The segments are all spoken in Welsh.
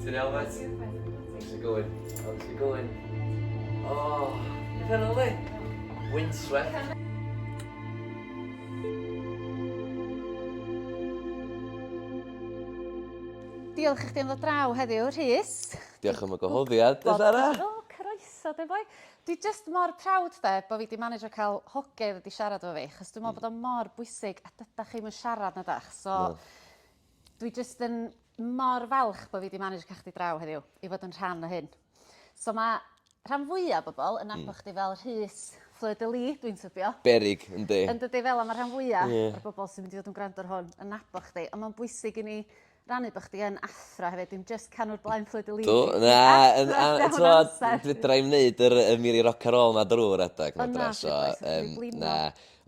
Ti'n iawn, Met? Ti'n iawn, Met? How's it going? How's it going? Oh, beth yna le? Windswept. Diolch i chdi am ddod draw heddiw, Rhys. Diolch am y gohoddiad, dy Sara. O, croeso, dy boi. Dwi just mor proud de, bod fi di manager cael hogedd wedi siarad efo fi, chos dwi'n meddwl mm. bod o mor bwysig, a dyda chi mae'n siarad na dach. So, no. Dwi jyst yn mor falch bod fi wedi manage cael chdi draw heddiw i fod yn rhan o hyn. So mae rhan fwyaf o bobl yn hmm. nabod chdi fel Rhys Fleur de Lis, dwi'n tybio. Berig, yndi. Yn dydy fel am y rhan fwyaf yeah. o'r bobl sy'n mynd i fod yn gwrando ar hwn yn nabod chdi. Ond mae'n bwysig i ni rannu bod chdi yn athro hefyd, dim just canwr blaen fflyd y lid. Do, na, ti'n bod, fydra i'n neud yr y miri rock ar ôl na drwy'r adeg. O na, so, um, na,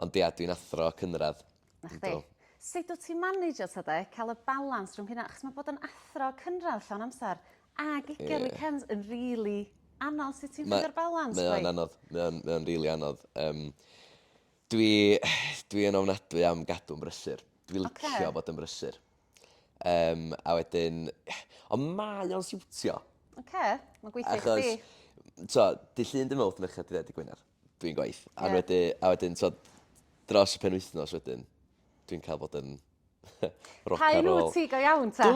ond ia, dwi'n athro cynradd. Na chdi. Yndw. Sut wt ti'n maneidio 'ta 'de ca'l y balans rhwng hynna achos ma' bod yn athro cynradd llawn amser ag ugen... Ie. ...weekends yn rili anodd sut ti'n ffindio'r balans chwaith? Mae o'n anodd mae o'n mae o'n rili anodd yym dwi dwi yn ofnadwy am gadw'n brysur. Dwi licio... Oce. ...bod yn brysur. Yym a wedyn ond mae o'n siwtio. Oce ma'n gweithio i chdi. Achos t'o' dy' Llun dy Mowrth Mercher dy Fed dy Gwener. dwi'n gwaith. A yeah. wedyn, a wedyn so, dros y pen wythnos wedyn, dwi'n cael bod yn rock and roll. Cael ti go iawn ta?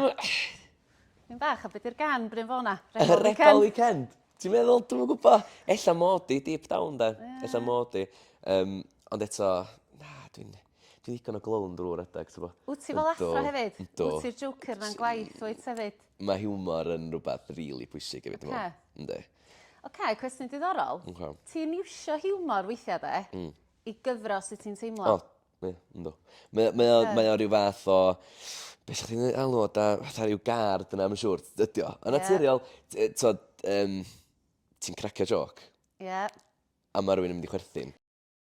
Dwi'n bach, a beth yw'r gan Bryn Fona? Rebel Weekend. Weekend. Ti'n meddwl, dwi'n gwybod, ella mod i deep down da. Yeah. Ella mod i. Um, ond eto, na, dwi'n... Dwi'n ddigon o glown drw redeg t'bo'? Wt ti fel athro hefyd? Yndw. Wt ti'r joker 'na'n gwaith wyt hefyd? Ma' hiwmor yn rwbath rili pwysig hefyd dwi me'wl. Oce. Yndi. Oce cwestiwn diddorol. Oce. Ti'n iwsio hiwmor weithia' 'de? Hmm. I gyfro' sut ti'n teimlo? O ie yndw. Mae o mae o mae o ryw fath o be' sa chdi'n ei alw o 'da fatha ryw gard yna ma' siŵr t- ydi o. Ie. Yn naturiol t- yy t'od yym ti'n cracio jôc. Ie. A ma' rywun yn mynd i chwerthin.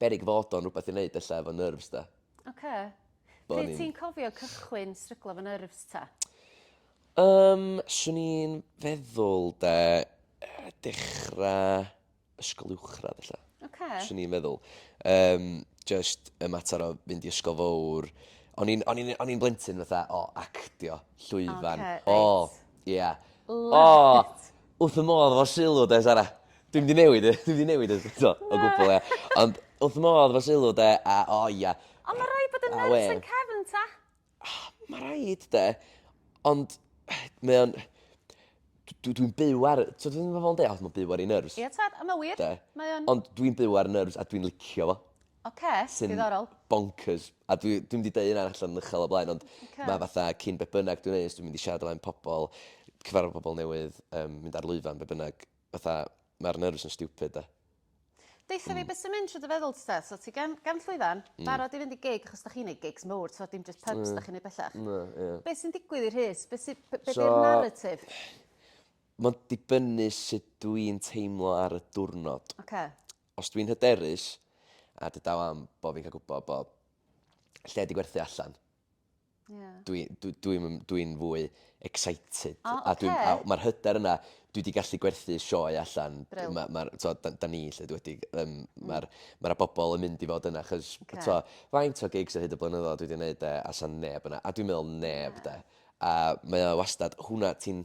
beryg fod o'n rhywbeth i wneud ella efo nerves 'de. Oce. Bo' ni'n... Pryd ti'n cofio cychwyn stryglo efo nerves ta? Yym, swn i'n feddwl 'de, yy dechra ysgol uwchradd ella. Oce. Swn i'n meddwl. Yym, jyst y mater o fynd i ysgol fowr. O'n i'n o'n i'n o'n i'n blentyn fatha, o, actio, llwyfan. Oce, reit. O, ie. Love it. O! Wrth fy modd efo sylw 'de Sara. Dwi'm 'di newid e dwi'm 'di newid e eto o gwbwl ia. Ond wrth fy modd efo sylw 'de a o ia. Ond ma' raid bod yn nerfus yn cefn ta? Ma' raid 'de ond mae o'n dw- dw- dwi'n byw ar y t'od fel ma' bobol yn deu' o ma' byw ar 'i nyrs. Ie tad a ma' wir. 'De? Mae o'n. Ond dwi'n byw ar 'yn nyrs a dwi'n licio fo. Ok, diddorol. Sy'n bonkers. A dwi, dwi'm wedi dweud hynna allan yn uchel o blaen, ond okay. mae fatha cyn be bynnag dwi'n neud, dwi'n mynd i siarad o flaen pobl, cyfarfod pobl newydd, um, mynd ar lwyfan, be bynnag, fatha, mae'r nervous yn stupid da. Deitha mm. fi beth sy'n mynd trwy dy feddwl ti so ti gan, gan llwyfan, mm. barod i fynd i gig, achos da chi'n neud gigs mowr, so dim just pubs mm. da chi'n neud bellach. No, yeah. Beth sy'n digwydd i'r hys? Beth sy'n be, be so, narratif? Mae'n dibynnu sut dwi'n teimlo ar y diwrnod. Okay. Os dwi'n hyderus, a dy daw am bod fi'n cael gwybod bod lle wedi gwerthu allan, yeah. dwi'n dwi, dwi, dwi, dwi fwy excited. Oh, okay. a dwi, a mae'r hyder yna, dwi wedi gallu gwerthu sioe allan. Bril. Ma, ma, to, da, da ni lle wedi, um, mm. mae'r ma bobl yn mynd i fod yna, chos okay. to, faint o gigs ar hyd y blynyddoedd dwi wedi gwneud e, a sa'n neb yna, a dwi'n meddwl neb yeah. de. A mae o wastad, hwnna ti'n,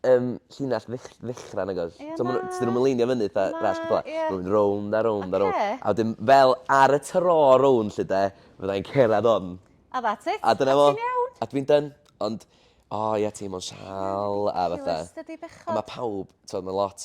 Yym, llinell ddech- ddechrau nag oes? Ie, So ma' nw... na. Tydyn nw'm yn leinio fyny fatha Na, ras ceffyla. ie. Ma' nw'n mynd rownd a rownd a rownd. Oce. A wedyn fel ar y tro rownd 'lly 'de fydda i'n cerddad 'on. A that's it. A dyna fo. A ti'n iawn. A dwi'n done. Ond o ie teimlo'n sâl a fatha... Ridiculous dydi bechod? A ma' pawb t'od ma' lot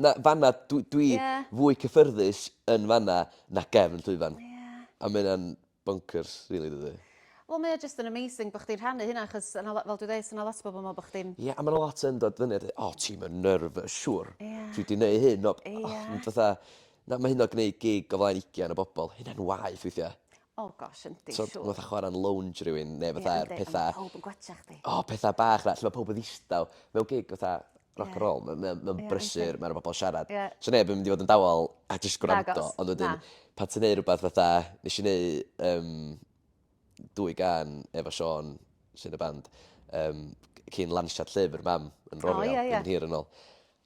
Na, fanna dw dwi... Ie. ...fwy cyffyrddus yn fanna na gefn llwyfan. Ie. A ma' ynna'n bonkers rili dydi? Wel mae o jyst yn amazing bo' chdi'n rhannu hynna achos o' 'na lo- fel dwi ddeu' so' 'na lot o bobol yn me'wl bo' chdi'n... Ie a ma' 'na lot yn dod fyny a deu' o ti'm yn nervous siŵr. Ie. Ti 'di neu' hyn o... Ie. ...o ond fatha na ma' hynna gneud gig o flaen ugian o bobol hynna'n waeth weithia'. Oh gosh yndi siŵr. T'od fatha chwara'n lounge rywun ne' fatha... Ie yndi. ...petha... A ma' powb yn gwetsach chdi. O petha bach na- lle ma' powb yn ddistaw. Mewn gig fatha rock and roll ma' mae o'n mae o'n brysur ma' 'na bobol siarad. Ie. Sa neb yn mynd i fod yn dawel a jyst gwrando. Nagos, na. Ond wedyn pan ti'n neu' rwbath fatha nesh i neu' yym dwy gân efo Siôn sy yn y band yym c- cyn lansiad llyfr Mam yn Rorial... O ie ie. ...blwyddyn hir yn ôl.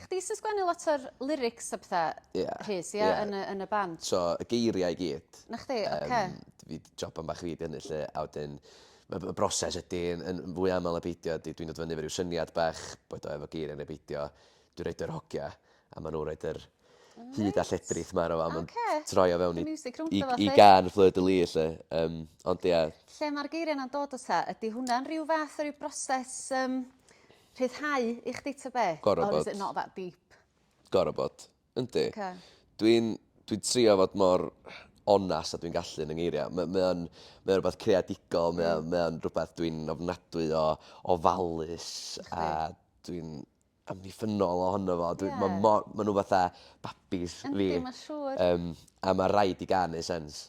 Chdi sy'n sgwennu lot o'r lyrics a petha... Ia. ...Rhys ia? Ia. Yn y yn y band? So y geiriau i gyd. 'Na chdi oce. Yym d- fi 'di joban bach fi 'di hynny 'lly a wedyn ma' b- y broses ydi yn yn fwy amal na beidio ydi dwi'n dod fyny efo ryw syniad bach boed o efo geiria ne' beidio dwi roid yr hogia a ma' nw roid yr... O neis. ...hud a lledrith 'ma arno fo a ma'n... Oce. ...troi o fewn i... Rhoi miwsig rownd o fo 'lly. ...i i gân Fleur de Lys 'lly yym ond ia. Lle ma'r geiria 'na'n dod o ta? Ydi hwnna'n rhyw fath o ryw broses yym Rhyddhau i chdi ta be? Gor'o' bod. Or is it not that deep? Gor'o' bod. Yndi. Oce. Dwi'n dwi'n trio fod mor onast a dwi'n gallu yn 'y ngeiria'. Ma' mae o'n mae o rwbath creadigol mae o mae o'n rwbath dwi'n ofnadwy o ofalus a dwi'n amddiffynnol ohono fo dwi... Ie. ...ma' mor ma' n'w fatha babis fi. Yndi ma' siŵr. Yym a ma' raid i gân neu' sense.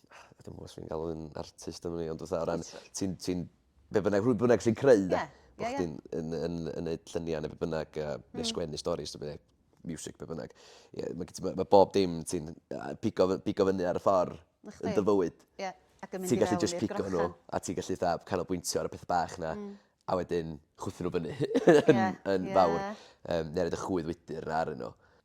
I don't know os fi'n galw fi'n artist am wn i ond fatha o ran ti'n ti'n be' bynnag rhwy bynnag sy'n creu 'de? Ie. Bo' chdi'n yn yn yn neud llynia ne' be' bynnag yy ne' sgwennu storis ta be' miwsic be' bynnag ie ma' gen ti ma' ma' bob dim ti'n yy pigo fy- pigo fyny ar y ffor... 'Na chdi. ...yn dy fywyd. Ie ac yn mynd i fewn i'r grochen. Ti gallu jyst pigo n'w a ti gallu 'tha canolbwyntio ar y petha bach 'na. Hmm. ...a wedyn chwythu n'w fyny yn yn fawr. Ie ie. Yym ne' roid y chwydd widyr 'na arnyn n'w.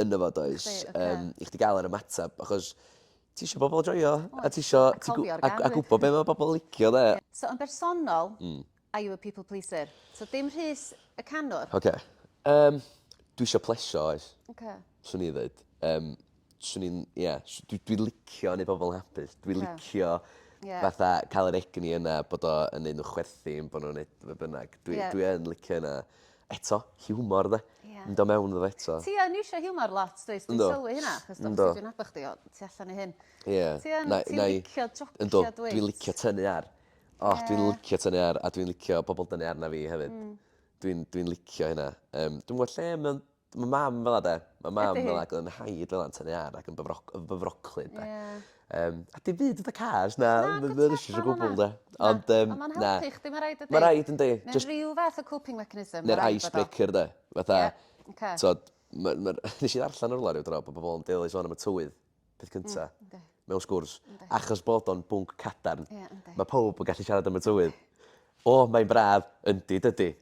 yn y fo does? Chdi, ocê. Yym i chdi ga'l yr ymateb achos ti isio bobol joio a ti isio... A cofio'r gân 'fyd. ...a gwbo be' ma' bobol licio 'de? So yn bersonol... Hmm. ...are you a people pleaser? So dim Rhys y canwr. Oce. Yym dwi isio plesio oes. Oce. Swn i ddeud. Yym swn i'n ie s- dwi dwi licio neud pobol yn hapus dwi... Ie. ...licio... Ie. ...fatha ca'l yr egni yna bod o yn neud n'w chwerthin bo' nw'n neud be' bynnag dwi... Ie. ...dwi yn licio ynna. Eto, hiwmor 'de? Ia. Mynd o mewn iddo fo eto. Ti yn iwsio hiwmor lot dwyt? Yndw. Dwi'n sylwi hynna achos do dwi'n nabod chdi o tu allan i hyn. Ie. Ti yn ti'n licio jocio dwyt? Yndw dwi'n licio tynnu ar. O dwi'n licio tynnu ar a dwi'n licio pobol dynnu arna fi hefyd. Hmm. Dwi'n dwi'n licio hynna. Yym dwi'm gwbo lle ma' ma' mam fel 'a 'de. Ma' mam fel 'a ag o'dd 'yn nhaid fel 'a'n tynnu ar ac yn bywro- yn fyfroclyd 'de. Ie. Yym a dim byd fatha cars na ma' ma' o jyst o gwbwl 'de. Ond yym na. Ond ma'n helpu chdi ma' raid ydi? Ma' raid yndi jyst... Ma' ryw fath o coping mechanism ma' raid bod o. Neu'r ice breaker 'de fatha... Ie oce. ...t'od ma' ma'r nesh i ddarllan yn rwla ryw dro bo' bobol yn deulu sôn am y tywydd peth cynta. Hmm yndi. Mewn sgwrs. Yndi. Achos bod o'n bwnc cadarn. Ie yndi. Ma' powb yn gallu siarad am y tywydd. O mae'n braf. Yndi dydi.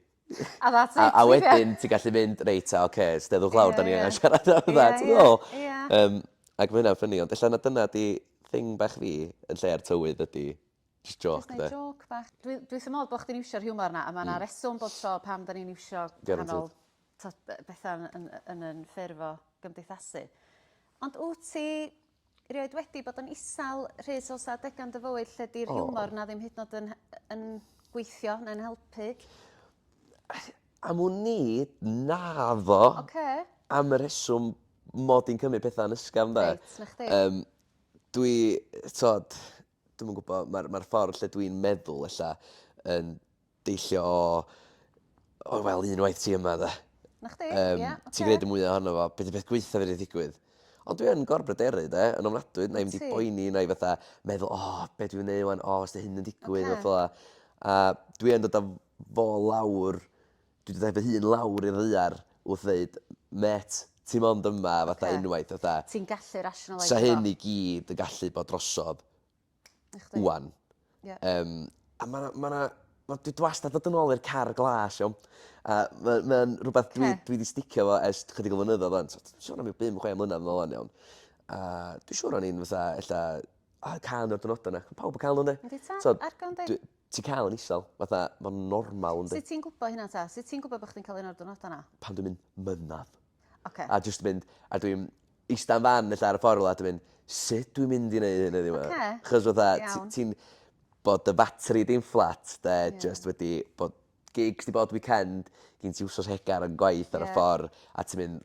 A that's it. A, a wedyn ti'n gallu mynd, reit, a, oce, okay, steddwch lawr, yeah, da ni yeah. angen siarad am yeah, that. Yeah, yeah. yeah. Um, ac mae hynna'n ffynnu, ond allan na dyna di thing bach fi yn lle'r tywydd ydy just joc, de. Just joc bach. Dwi, dwi sy'n modd bod chdi'n iwsio'r humor na, a mae yna mm. reswm bod tro pam da ni'n iwsio canol bethau yn, yn, yn, yn ffurf o gymdeithasu. Ond wyt ti Rioed wedi bod yn isel, Rhys, oes 'na adega yn dy fywyd lle 'di'r hiwmor 'na ddim hyd yn o'd yn yn gweithio neu'n helpu? Am wn i, naddo. Oce. Am y rheswm mod i'n cymryd petha'n ysgafn 'de? Reit, 'na chdi. Yym dwi t'od dwi'm yn gwbo ma'r ma'r ffordd lle dwi'n meddwl ella yn deillio o o wel un waith ti yma 'de. 'Na chdi. Yym. Ia oce. Ti'n gneud y mwya ohono fo be' 'di peth gwaetha fedru ddigwydd? Ond dwi yn gorbryderu 'de yn ofnadwy nai'm 'di poeni nai fatha meddwl o be' dwi myn' neu' ŵan o os 'di hyn yn digwydd... Oce. ...a petha fel 'a a dwi yn dod â fo lawr dwi 'di dau fy hun lawr i'r ddaear wrth ddeud mêt ti mond yma fatha unwaith fatha... Ti'n gallu rationaleisio fo. ...sa hyn i gyd yn gallu bod drosodd ŵan. Ie. Yym a ma' 'na ma' 'na wel dwi wastad dod yn ôl i'r car glas iawn a ma' ma' o'n rwbeth dwi dwi 'di sticio efo ers t- chydig o flynyddodd ŵan t'od sôn am ryw bum chwe mlynadd yn ôl ŵan iawn a dwi siŵr o'n i'n fatha ella a cân o'r diwrnoda 'na. Pawb yn ca'l n'w yndi? Yndi tad? T'od... Ar gân dy... ...dwi Ti'n cael yn isel. Fatha ma'n normal yndi? Sut ti'n gwbo hynna 'ta? Sut ti'n gwbo bo' chdi'n ca'l un o'r diwrnoda 'na? Pan dwi'n mynd mynadd. Oce. A jyst mynd a dwi'n ista'n fan ella ar y ffor rwla a dwi mynd sut dwi'n mynd i neu' hyn heddiw 'ma? Oce. 'Chos fatha ti... Iawn. ...ti'n bod dy fatri di'n fflat 'de... Ie. ...jyst wedi bod gigs 'di bod weekend gin ti wsos hegar yn gwaith ar y ffor... Ie. ...a ti mynd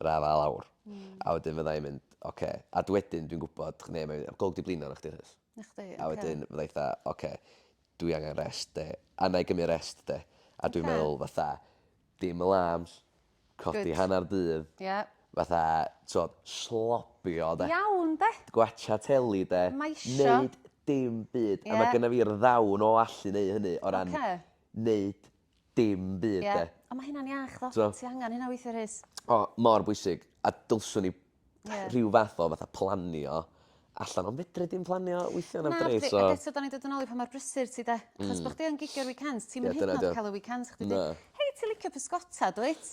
yr afael lawr. Hmm. A wedyn fydda i'n mynd, oce. A dw wedyn dwi'n gwybod, ne, mae mynd, golwg di blino arno chdi Rhys. Na chdi, oce. A wedyn fydda i fatha, oce, dwi angen rest de. A na i gymryd rest de. A dwi'n Oce. meddwl fatha, dim alarms, codi Good. hanner dydd, Ie. fatha, t'od, slobio de. Iawn de! Gwatcha teli de. Mae isio. Neud dim byd. A Ie. mae gynna fi'r ddawn o allu neu hynny o ran... Oce. ...neud dim byd 'de. Ie. Ond ma' hynna'n iach tho. T'mo'? Ti angan hynna weithia' Rhys. O mor bwysig a dylswn i... Ie. ...rhyw fath o fatha planio allan on' fedri di'm planio weithia' na'm dri so... Na fedri ag eto 'dan ni'n dod yn ôl i pa mor brysur ti 'de? Hmm. Achos bo' chdi yn gigio'r weekends ti'm yn... Ie dyna 'di o. ...hyd yn o'd ca'l y weekends chdi 'di... Na. Hei ti licio pysgota dwyt?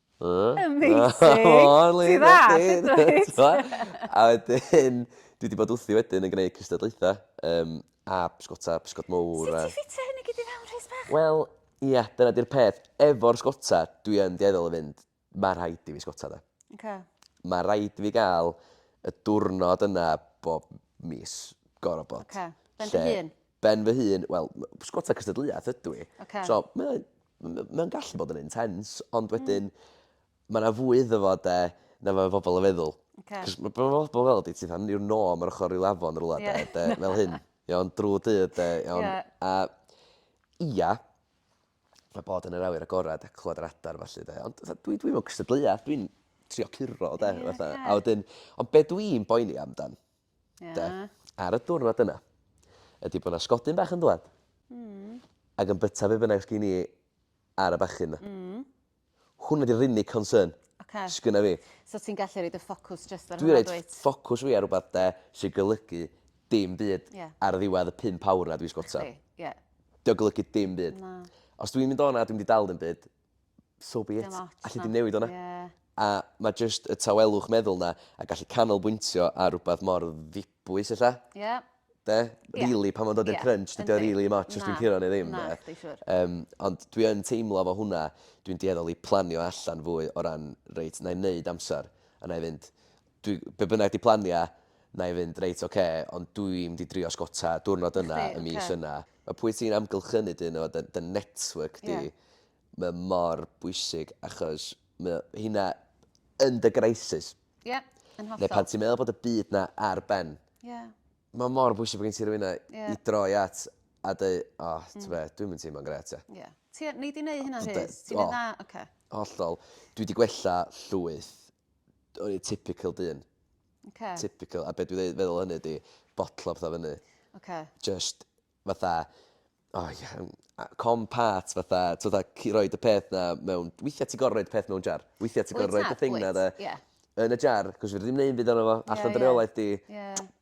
Amazing! Ti'n dda, ti'n reit! A wedyn, dwi wedi bod wrthi wedyn yn gwneud cystadlaethau, um, a pysgota, pysgod mowr a... Sut ti'n ffitio hyn i gyd i fewn, Rhys bach? Wel, ia, dyna di'r peth. Efo'r sgota, dwi yn dueddol o fynd, mae rhaid i fi sgota da. Okay. Mae rhaid i fi gael y diwrnod yna bob mis, gorau bod. Okay. Ben dy hun? Ben fy hun, wel, pysgota cystadleuaeth ydw i. Ocê. So, mae o m- m- mae o'n gallu bod yn intense, ond hmm. wedyn mae yna fwy iddo fo 'de na mae pobl yn feddwl. Ocê. 'C'os ma' be' ma' pobol fel 'di ti fatha yw'r nom ar ochr ryw afon rwla 'de Ie. 'de fel hyn. Iawn drw dydd 'de iawn. Ie. A ia ma' bod yn yr awyr agored a clywed yr adar felly 'de ond fatha dwi dwi'm mewn cystadleuaeth dwi'n trio curo 'de Ie, fatha. ocê. A wedyn ond be' dwi'n boeni amdan Ie. 'de? Ar y diwrnod yna ydi bo' 'na sgodyn bach yn dŵad. Hmm. Ag yn byta be' bynnag sgin i ar y bachyn 'na. Hmm. Hwnna 'di'r unig concern... Oce. ...sgynna fi. So ti'n gallu roid y ffocws jyst ar hwnna dwyt? Dwi roid ffocws fi ar rwbath 'de sy golygu dim byd... Ie. ...ar y ddiwedd y pump awr 'na dwi sgota. Chdi. Ie. 'Di o golygu dim byd. Na. Os dwi'n mynd o 'na a dwi'm 'di dal ddim byd so be it. Dim ots 'na. Alli di'm newid wnna. Ie. A ma' jyst y tawelwch meddwl 'na a gallu canolbwyntio ar rwbath mor ddibwys ella. Ie. 'De? Ie. Rili pan ma'n dod i'r... Ie. ...crunch dydi o rili 'im ots os dwi'n Na. curo ne' ddim 'de? Na, chdi siŵr. Yym ond dwi yn teimlo efo hwnna dwi'n dueddol i planio allan fwy o ran reit 'nai neud amser a 'nai fynd dwi, be bynnag di plania, na i fynd, reit, oce, ond dwi mynd i drio sgota diwrnod yna, y mis okay. yna. Mae pwy ti'n amgylchynu dyn nhw, dy, dy network di, yeah. mae mor bwysig achos mae hynna yn dy greisus. Ie, yeah, yn hollol. Neu pan ti'n meddwl bod y byd na ar ben. Ie. Yeah. Mae mor bwysig bod gen ti rhywun yeah. i droi at a dweud, o, oh, mm. ti'n dwi'n mynd teimlo'n gret. Ie. Yeah. Ti, ni di wneud hynna, Rhys? Ti'n mynd dda? Oce. Okay. Hollol. Dwi wedi gwella llwyth o'n i typical dyn. Oce. Typical a be' dwi ddeu- feddwl o hynny ydi botlo petha fyny. Oce. Jyst fatha o ie yym a com pat fatha t'od a ci- roid y peth 'na mewn... Weithia' ti gor'o' roid peth mewn jar. Weithia' ti gor'o' roid y thing 'na 'de... Wyt. Ie. ...yn y jar 'c'os fedri di'm neu' 'im byd arno fo. Ie ie. Allan dy reolaeth di. Ie.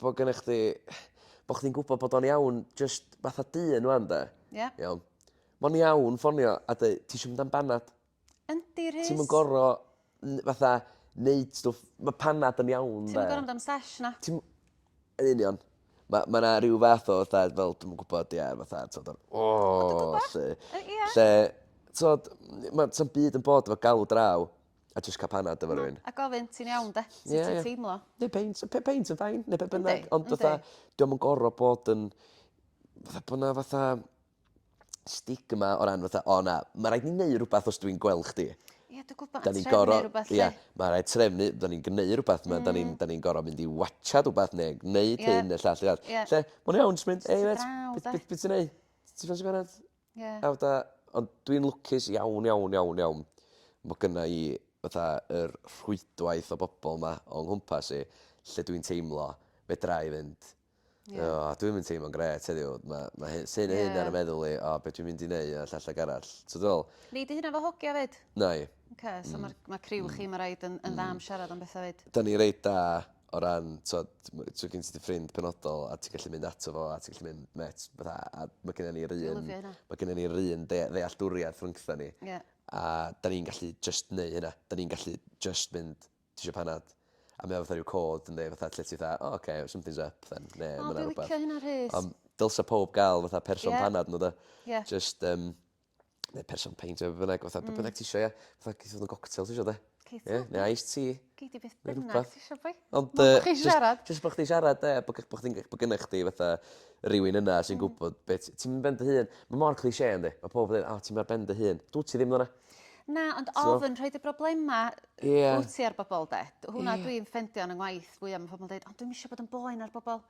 bo' gennych chdi bo' chdi'n gwbod bod o'n iawn jyst fatha dyn ŵan 'de? Ia. Iawn. Ma'n iawn ffonio a deu' tisio mynd am banad? Yndi Rhys. Ti'm yn goro n- fatha neud stwff ma' panad yn iawn 'de? Ti'm yn goro mynd am sesh na. Ti'm... Yn union. Ma' ma' 'na ryw fath o fatha fel dwi'm yn gwbod ia fatha t'od yr o 'lly. Yy ia. Lle t'od n- ma' sa'm byd yn bod efo galw draw. A jyst ca'l panad efo rywun. A gofyn ti'n iawn 'de? Sut ti'n teimlo? Neu peint yy pe- peint yn fine ne' be' bynnag ond fatha 'di o'm yn gor'o' bod yn fatha bo' 'na fatha stigma o ran fatha o na ma' raid ni neu' rwbath os dw i'n gwel' chdi. Ie dwi gwbo ma' trefnu rwbath 'lly. Ia ma' raid trefnu 'dan ni'n gneu' rwbath ma' 'dan ni'n 'dan ni'n gor'o' mynd i watsiad wbath ne' gneud hyn ne' llall ne' arall. Lle ma' wnna iawn jys mynd ey mêt be' be' be' ti neu'? Ti isio sigarad? Ie. Naw da. Ond dwi'n lwcus iawn iawn iawn iawn bo' gynna i fatha yr rhwydwaith o bobol 'ma o nghwmpas i lle dwi'n teimlo fedrai fynd Ie. O dwi'm yn teimlo'n grêt heddiw ma' ma' hy- sy neu' hyn ar 'yn Ie. meddwl i o be' dwi'n mynd i neu' a llall ag arall. T'o' dwi fe'wl? Nei dy hunan fo hogia 'fyd? Nai. Oce so ma'r ma' criw chi ma' raid yn yn dda am siarad am betha 'fyd. 'Dan ni reit da o ran t'od ma' so gen ti dy ffrind penodol a ti gallu mynd ato fo a ti gallu mynd mêt fatha a ma' gennon ni'r un... Dwi lyfio hynna. ...ma' gennon ni'r un dea- ddealltwriaeth rhwngtha ni. Ie. A 'dan ni'n gallu jyst neu' hynna 'dan ni'n gallu jyst mynd ti isio panad? A mae o fatha ryw cod yndi fatha lle ti fatha o oce something's up then ne' ma' 'na rwbath. O dwi licio hynna Rhys. Ond dylsa powb ga'l fatha person... Ie. ...panad n'w 'de? Ie. Jyst yym ne' person peint ne' be' bynnag fatha be' bynnag ti isio ia? Fatha geith fod yn goctel ti isio 'de? Geith fod. Ie neu iced tea. Gei di beth bynnag ti isio boi. Ond yy... Mond bo' chi isio siarad. Jyst bo' chdi siarad 'de a bo' gy- bo' chdi'n g- bo' gynnych chdi fatha rywun yna sy'n gwbod be' t- ti'm ben dy hun. Ma' mor cliche yndi? Ma' powb yn deu' o ti'm ar ben dy hun. Dw't ti ddim fel 'na. Na ond ofn rhoid y broblema... Ie. ...wt ti ar bobol 'de? D- hwnna dwi'n ffendio yn 'yn ngwaith fwya ma' pobol yn deud o dwi'm isio bod yn boen ar bobol.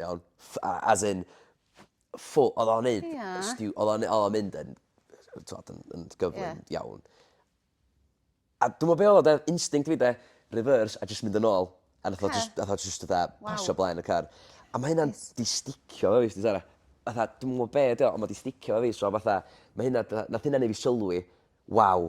Iawn? Ff- a- as in ffo- odd o'n neud... Ia. ...stiw- odd o'n ne- odd o'n mynd yn yy t'wod yn yn gyflym... Ie. ...iawn. A dw'mo' be' odd o 'de instinct fi 'de reverse a jyst mynd yn ôl a nath o jys... Oce. ...nath o jyst fatha... Waw. ...pasio blaen y car. A ma' hynna'n... Neis. ...'di sticio 'fo fi wsdi Sara. Fatha dw'm yn gwbo be' 'di o on' ma' 'di sticio 'fo fi so fatha ma' hynna 'da- nath hynna neu' fi sylwi waw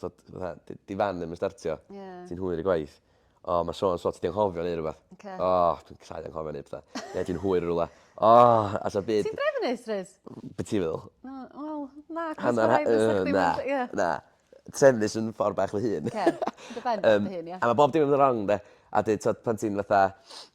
t'od fatha 'di 'di fan ddim yn startio. Ie. Ti'n hwyr i gwaith. O ma' so an' so ti 'di anghofio neu rwbath. Oce. O dwi'n cau anghofio neud petha. Ne' ti'n hwyr yn rwla. O! A so by'... Ti'n drefnus rwyt? Be' ti feddwl? Na wel na Hannar ha- yy na. Ie. Na. Trefnus yn ffor bach fy hun. Oce. Dy ben bach dy hun ia? Yym a ma' bob dim yn myn' yn rong 'de? A 'dyn t'od pan ti'n fatha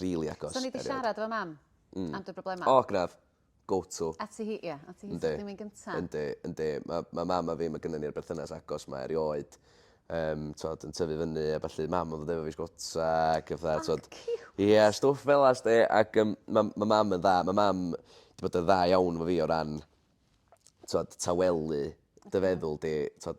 rili agos. So ni 'di siarad efo mam hmm. am dy broblemau? O, graf. Go to. A ti hi, ia. A ti hi sy'n mynd gyntaf. Yndi, yndi. Mae ma mam a fi, mae gynnu ni'r berthynas agos mae erioed. Um, tod, yn tyfu fyny a falle mam yn ddod efo fi sgota ac efo dda. Ie, yeah, stwff fel as de. Ac um, mae ma mam yn dda. Mae mam wedi bod yn dda iawn fo fi o ran tod, tawelu dy feddwl di. Tod,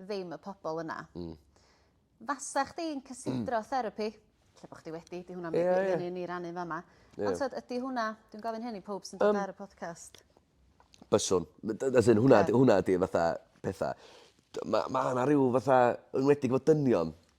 ddim y pobl yna. Mm. Fasa chdi'n cysidro therapi? Lle bod chdi wedi, di hwnna'n yeah, yeah. ni rannu fama. Yeah. Ond ydy hwnna, dwi'n gofyn hyn i pob sy'n dod um, ar y podcast. Byswn. As in, hwnna, yeah. hwnna di fatha pethau. Mae ma yna rhyw fatha, yn wedi bod dynion,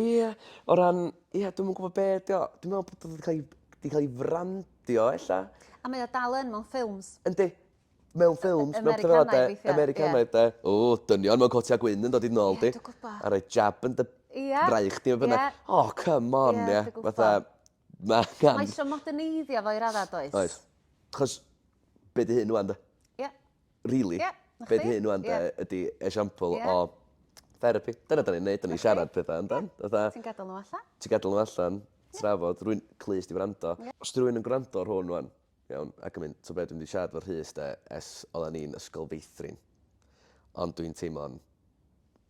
Ie o ran ie dwi'm yn gwbod be' 'di o. Dwi me'wl bod o 'di ca'l 'i 'di ca'l 'i frandio ella. A mae o dal yn mewn ffilms. Yndi. Mewn ffilms mewn petha fel 'a 'de. Americanaidd weithia. Americanaidd 'de. O dynion mewn cotia gwyn yn dod i dy nôl di. Ie dwi gwbo. A roi jab yn dy... Ia. ...braich di ne' be' bynnag. Ia. O come on ie. Ie dwi gwbo. Fatha Mae gan... Mae eisiau moderneiddio fo i radda, does? Oes. Chos, be di hyn wan, da? Ie. Yeah. Really? Ie. Yeah. Be di hyn wan, da, yeah. ydy esiampl yeah. o therapy. Dyna da ni'n neud, da ni'n okay. siarad pethau amdan. Yeah. Ti'n gadael nhw allan? Ti'n gadael nhw allan, trafod, rwy'n clus di wrando. Yeah. Os rwy'n yn gwrando ar hwn wan, iawn, ac yn mynd, to bed, dwi'n di siarad fo rhys, da, es oedden ni'n ysgol feithrin. Ond dwi'n teimlo'n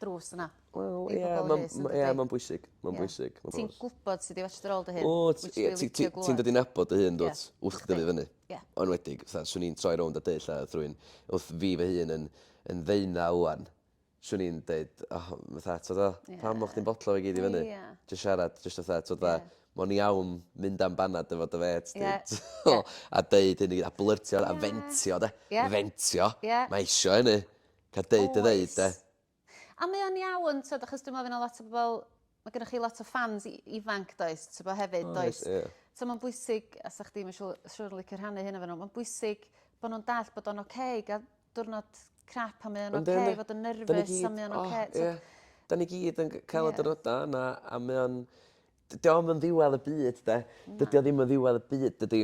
drws yna. Wel ie ma'n ma' ie ma'n bwysig ma'n bwysig. Ti'n gwbod sut i fetru dy ôl dy hun. Wt ti ie ti ti ti'n dod i nabod dy hun dw't? Wrth chdi dyfu fyny. Ie. Enwedig fatha swn i'n troi rownd a deud 'tha wrth rywun wrth fi fy hun yn yn ddeunaw ŵan swn i'n deud o fatha t'od o... Ie. ...pam o' chdi'n botlo fe gyd i fyny? Ie. Jys siarad jyst fatha t'od fatha... Ie. ...mo'n iawn mynd am banad efo dy fêt di. Ie. T'mo'? A deud hyn i gyd a blyrtio a fentio 'de? Ie. Fentio. Ie. Mae isio hynny. Ca deud dy ddeud de. A mae o'n iawn t'od achos dwi'n meddwl fydd 'na lot o bobl mae gennych chi lot o ffans i- ifanc does t'bo hefyd does? Oes ie. So ma'n bwysig a 'sach chdi ma' siŵ- siŵr yn licio rhannu hyn efo n'w ma'n bwysig bo' nw'n dallt bod o'n oce i ga'l diwrnod crap a mae o'n oce i fod yn nerfus a mae o'n oce t'od... Ie. 'Dan ni gyd yn gy- ca'l y diwrnoda yna a mae o'n Dydi o 'im yn ddiwedd y byd 'de? Na. Dydi o ddim yn ddiwedd y byd dydi?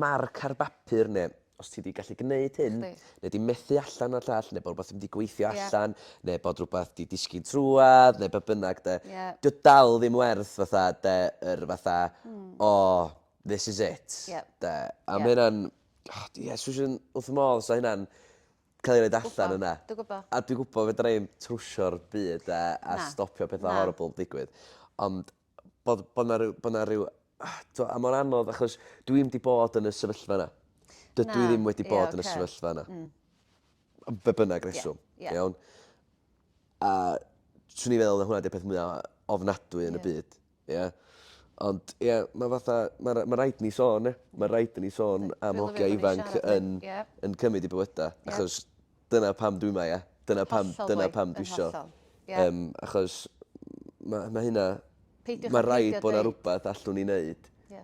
Marc ar bapur ne' os ti 'di gallu gneud hyn... Chdi. ...ne' 'di methu allan o'r llall ne' bo' rwbath 'im 'di gweithio allan... Ie. ...ne' bod rwbath 'di disgyn trwadd ne' be' bynnag 'de? Ie. 'Di o dal ddim werth fatha 'de yr fatha... Hmm. ...o this is it. Ie. 'De? A ma' ynna'n o Iesu sh- yn wrth fy modd 'da hynna'n ca'l 'i roid allan yna. Dwi gwbo. A dwi gwbo fedra i'm trwsio'r byd a a... Na. ...stopio petha... Na. ...horrible digwydd ond bod bo' 'na ryw bo' 'na ryw t'wo' a mor anodd achos dwi 'im 'di bod yn y sefyllfa 'na. Na. Dydw i ddim wedi bod... Ie oce. ...yn y sefyllfa 'na. Hmm. Am be' bynnag reswm. Ie ie. Iawn? A 'swn i'n feddwl 'na hwnna 'di'r peth mwya ofnadwy yn y byd. Ie. Ie. Ond ie ma' fatha ma' ra- ma' raid ni sôn ia? Ma' raid i ni sôn am hogia ifanc yn yn cymyd 'u bywyda achos dyna pam dwi 'ma ia? Dyna pam dyna pam dwi isio yym achos ma' ma' hynna... Peidiwch â peidio deud... ...ma' raid bo' 'na rwbath allwn ni neud. Ie.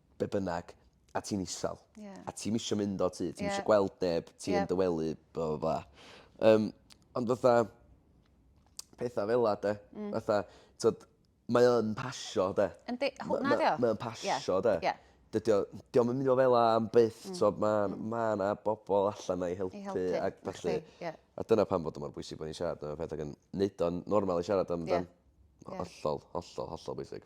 be' bynnag a ti'n isal. Ie. A ti'm isio mynd o tŷ ti'm... Ie. ...isio gweld neb ti yn dy wely bla bla bla. Yym ond fatha petha fel 'a 'de? Hmm. Fatha t'od mae o yn pasio 'de? Yndi ho- ma' 'di o. Mae o'n pasio 'de? Ie ie. Dydi o 'di o'm yn myn' i fo' fel 'a am byth t'o' ma' ma' 'na bobol allan 'na i helpu... I helpu. ...ag felly... Felly ie. ...a dyna pam bod o mor bwysig bo' ni'n siarad am y peth ag yn neud o'n normal i siarad amdan. Ie. Ie. Hollol hollol hollol bwysig.